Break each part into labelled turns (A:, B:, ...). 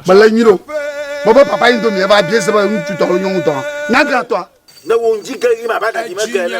A: mele nyuie ɖo bɔbɔ papa yi domi eva bie sebe ŋutsu tɔ lo nyɔnu tɔ nyaga tɔ. ne wo ŋdzi ge
B: yi ma ba da me ge ne.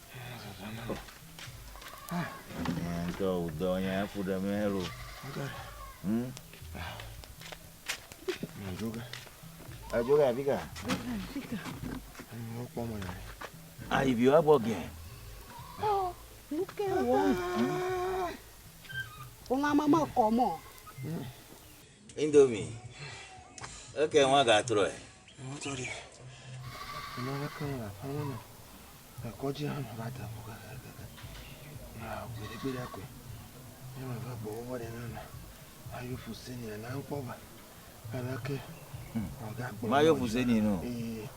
B: Ŋutɔ wò dɔ nya eƒo ɖe mɛ lo. Hmm?
A: Joga. Eh, joga afi
B: ka?
A: Wokpɔ me le. Ah, ibi wa
B: gbɔ gɛ.
C: Nu ke wɔm. Wòlã mama kɔ mɔ.
B: Indomie. Eke nwa ga trɔ ɛ. Mo tɔ di.
A: Mo le ke la fa mo no. E ko ji han ba ta ko ka ka ka. Na ko de pe da ko. Ni ma va bo wo de na na. Ayo fu se ni na nko ba. Ala ke. O ga
B: gbo. Ma yo fu se ni no. Eh.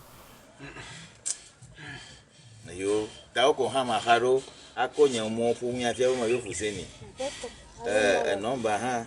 B: Na yo ta ko ha ma ha ro. A ko nyen mo fu mi a te mo yo fu se ni. Eh, e nomba ha.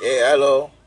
B: Ee,
C: alo.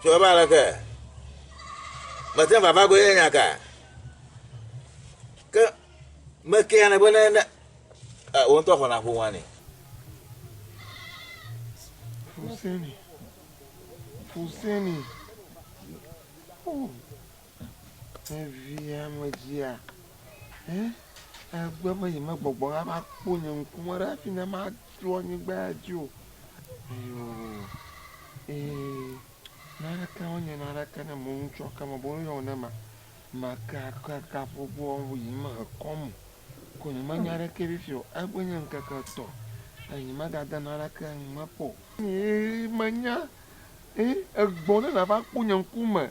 B: Tso ebe aleke? Mete ŋu vava goe nya ka? Ke mekea ne be ne ne eh, wo ŋutɔ xɔna ƒoa nɛ. Fuseni.
A: Fuseni. Oh. Evia medzia, hɛ egbe be yemegbɔgbɔ va va kpɔ nye ŋku me ɖe afi ne matrɔ anyigba ya dzi o. Eyo ee, naneke wonye naneke ne mo ŋutsɔ ke me bo yɔ ne ma make ake ka ƒogo ɔnwo yi me ekɔ mo. Ko nye me nya ɖeke bi fio. Egbe nye ŋkeke tɔ. Enyi me ga de naneke ŋu me kpɔ. Ee, menya, ee, egbɔ ne na va kpɔ nye ŋku me.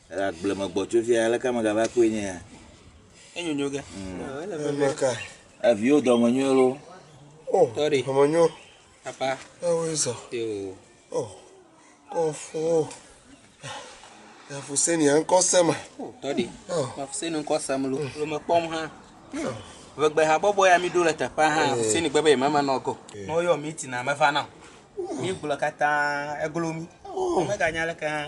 B: Ele agble me gbɔ tso fia, aleke ame gava kpɔe nye ya? Enyonyo
D: ke. Eme ka.
A: Eviwo
B: dɔme nyo loo. O, Sorry.
A: dɔme nyo. Papa.
D: Ewoe zɔ. Yo. O,
A: kɔfo. Afuseni ya ŋkɔ se ma. O, tɔɖi.
D: O. Afuseni ŋkɔ se mlo. Lo me kpɔm ha. O. Vegbe ha bɔbɔ ya mi ɖo le teƒe ha. Afuseni gbe be mama nɔ go. Ne woyɔ mi tina me va na. Mi gblɔ katã eglo mi. O. Mega nya leke ha.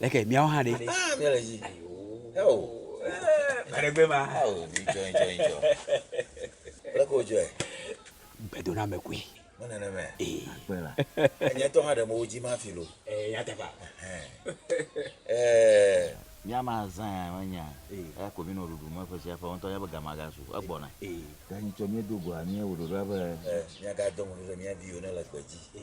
E: Leke miawo hã ɖe?
B: Gbaɖegbe
E: ma.
B: Leke wodzɔe? Gbedoname
E: koe. Me nenema.
B: Ee. Akpe la.
E: Nye ŋutɔ hã ɖe
B: mo wodzi ma fi lo. Ee, nyateƒea.
E: Ee.
B: Mía ma zã ya menya. Ee. Eya ko mi nɔ ɖuɖu me ƒe sia ƒe. Wo ŋutɔ nya be ga ma ga su. Egbɔna. Ee. Ɖe anyi tsɔ mía do goa mía wò ɖoɖoa be. Ee. Mía ga do ŋɔdzi ɖe mía viwo ne le gbe dzi. Ee.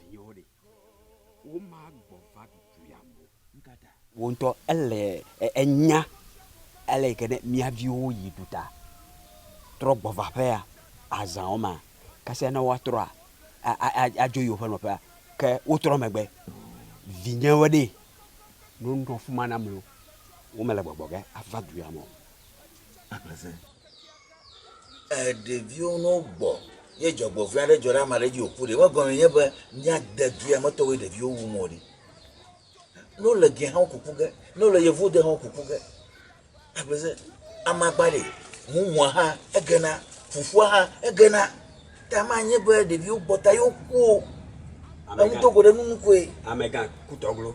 E: Vinyewo ɖe? Womagbɔ va ɖuɖuiam o. Nukata? Wò ŋutɔ
B: èle
E: enya ale yi ke ne mía viwo yi ɖuta, trɔ gbɔ va aƒea, azã wo mea, kasia ne woatrɔa, adzo yi woƒe nɔƒea, ke wotrɔ megbe. Vinyewo ɖe? Ne wonɔ afi ma nam loo, womele gbɔgbɔ ge ava ɖuiam o.
B: Ɖeviwo ne wogbɔ ye dzɔgbevɔ̃e aɖe dzɔ ɖe ame aɖe dzi wòku ɖe, megɔmee nye be míade via me tɔwoe ɖeviwo wum o ɖe. Ne wole ge hã woku ku ge, ne wole yevu de hã woku ku ge. Akpɔe se amagba ɖe mumua hã egena, fufua hã egena. Ta manye be ɖeviwo gbɔ ta ye woku o. Ame gã. Enudogo ɖe nunu koe. Amegã kutɔ
E: glo.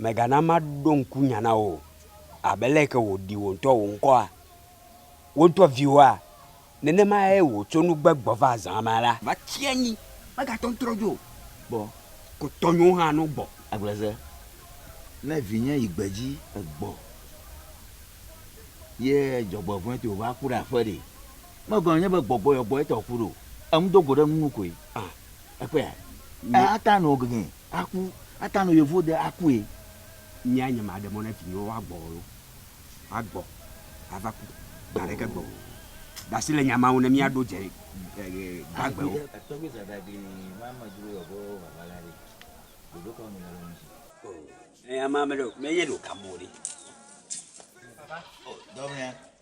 E: Mègana maɖo ŋku nya na wò o, abe ale ke wòɖi wò ŋutɔ wò ŋkɔa, wò ŋutɔ viwòa, nenemae wòtso nu gbegbe va zã mea la. Va tsi anyi, megatɔ ŋtrɔ dzo o, vɔ ko tɔnyewo hã no gbɔ. Agbleze,
B: ne vinye yi gbedzi egbɔ, ye dzɔgbevɔ̃e toe wòva ku ɖe aƒe ɖe, megɔme nye be gbɔgbɔ yɔgbɔe tɔ ku ɖo o, eŋu do go ɖe eŋu nu koe. Ekpɔea? Eya ta nɔ gege. Aku ata no yevu de akue. Nyea nye
E: maɖe mɔ ne vinyewo woagbɔ o lo. Woagbɔ ava ku gã ɖeke gbe o. Ɖe asi le nya ma ŋu ne míaɖo dze gbagbewo.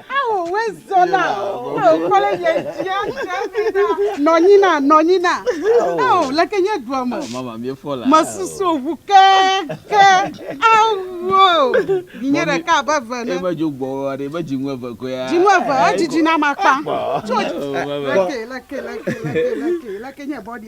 C: Hahowoe zɔna. Ao kpɔ le nye dzia dzamina. Nɔnyina nɔnyina. Ao leke nye dua me. Mama mi fɔ la.
D: Mesusu ŋu ke
C: ke. Awo vinye ɖeka abe eve ne. Ebe dzo gbɔ wa ɖe ebe
D: dzinu eve koya. Dzinu eve edzidzi na
C: ma kpa. Tso leke leke leke leke leke nye bɔdi.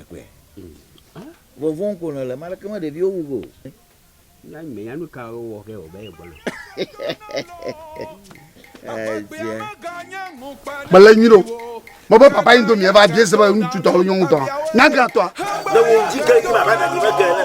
B: Ekpɔe. Vɔvɔm ko nèle, ame aɖeke me ɖeviwo wu ge o. Na
E: menya nu ka wowɔ ke wòbe yegbɔna.
F: Mele nyuie ɖo. Mebe papa yi domi eva bie sebe ŋutsu
B: tɔ
F: alo nyɔnu tɔ.
B: Nyaga
F: tɔ. Le wo ji
B: ge ji
F: ma
B: ba da
F: mi
B: me
F: ge
B: ne.